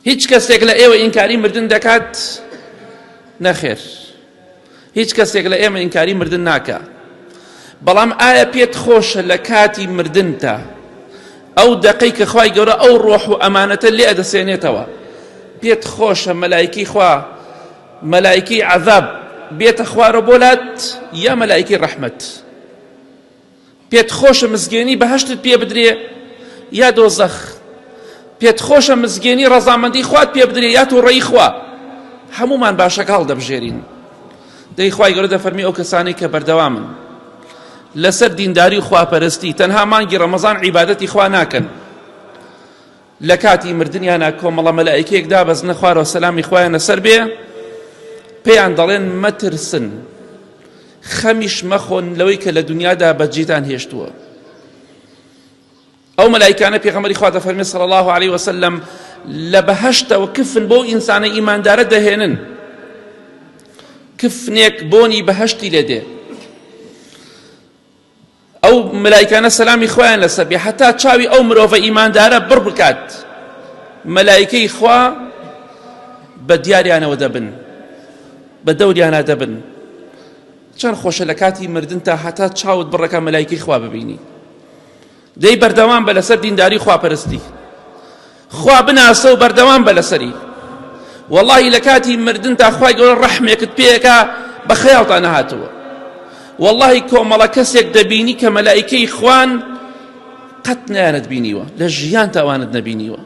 هیچ کەسێک لە ئێوە ئینکاری مردن دەکات نەخێر هیچ کەسێک لە ئێمە ئینکاری مردن ناکە بەڵام ئایا پێت خۆشە لە کاتی مردنتە ئەو دەقەی کە خی گەورە ئەو ڕۆح و ئەمانەتە لێ دەسێنێتەوە پێت خۆشە مەلایکی خوا مەلایکی عذاب بێتە خوارە بۆلات یا مەلایکی ڕەحمەت پێت خۆشە مزگێنی بەهەشتت پێ بدرێ یا دۆزەخ پێت خۆشە مزگێنی ڕەزامەندی خوات پێ بدرێ یا تووڕەی خوا هەمومان باشەکە هەڵدەبژێرین دەیخوای گەورە دەفەرمی ئەو کەسانەی کە بەردەوامن لەسەر دینداری و خواپەرستی تەنها مانگی ڕەمەزان عیبادەتی خوا ناکەن لەکاتی مردنیانا کۆمەڵە مەلائیکەیەک دابەزنە خوارەوە سەلامی خوایان لەسەر بێ پێیان دەڵێن مەترسن خەمیش مەخۆن لەوەی کە لە دنیادا بەجیتان هێشتووە ئەو مەلایکانە پێغەمەری خوا دەفەرمێ صلی الله عليه وسلم لە بەهشتەوە کفن بۆ ئینسانە ئیماندارە دەهێنن کفنێک بۆنی بەهشتی لێ دێ ئەو مەلایکانە سەلامی خوایان لەسەر بێ هەتا چاوی ئەو مرۆڤە ئیماندارە بڕ بکات مەلایکەی خوا بە دیاریانەوە دەبن بە دەوریانە دەبن چەند خۆشە لە کاتی مردن تا هەتا چاوت بڕەکە مەلایکەی خوا ببینی دەی بەردەوام بە لەسەر دینداری خواپەرستی خوا بناسە و بەردەوام بە لەسەری واللهی لە کاتی مردن تا خوای گەورە ڕەحمێکت پێەکە بە خەیاڵتا نەهاتووە واللهی کۆمەڵە کەسێک دەبینی کە مەلایکەی خوان قەت نیانت بینیوە لە ژیان تاوانت نەبینیوە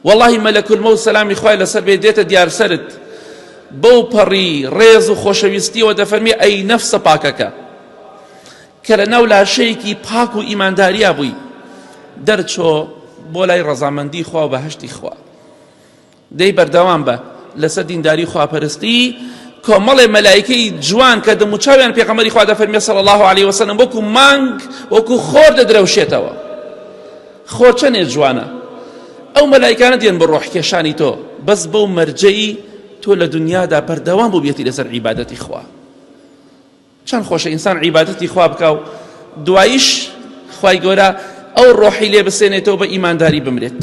وەڵاهی مەلەک المەوت سەلامی خوای لەسەر بێت دێتە دیار سەرت بەو پەڕی ڕێز و خۆشەویستیەوە دەفەرمی ئەی نەفسە پاکەکە کە لە ناو لاشەیەکی پاک و ئیمانداریا بووی دەرچۆ بۆ لای ڕەزامەندی خوا و بەهشتی خوا دەی بەردەوام بە لەسەر دینداری خواپەرستی کۆمەڵێ مەلایکەی جوان کە دەموچاویان پێغەمەری خوا دەفەرمێ صلی الله عليه وسلم وەکو مانگ وەکو خۆر دەدرەوشێتەوە خۆ چەنێ جوانە ئەو مەلایکانە دێن بە ڕۆح کێشانی تۆ بەس بەو مەرجەی تۆ لە دنیادا بەردەوام بووبێتی لەسەر عیبادەتی خوا چەند خۆشە ئینسان عیبادەتی خوا بکە و دوایش خی گەورە ئەو ڕۆحی لێ بسێنێتەوە بە ئیمانداری بمرێت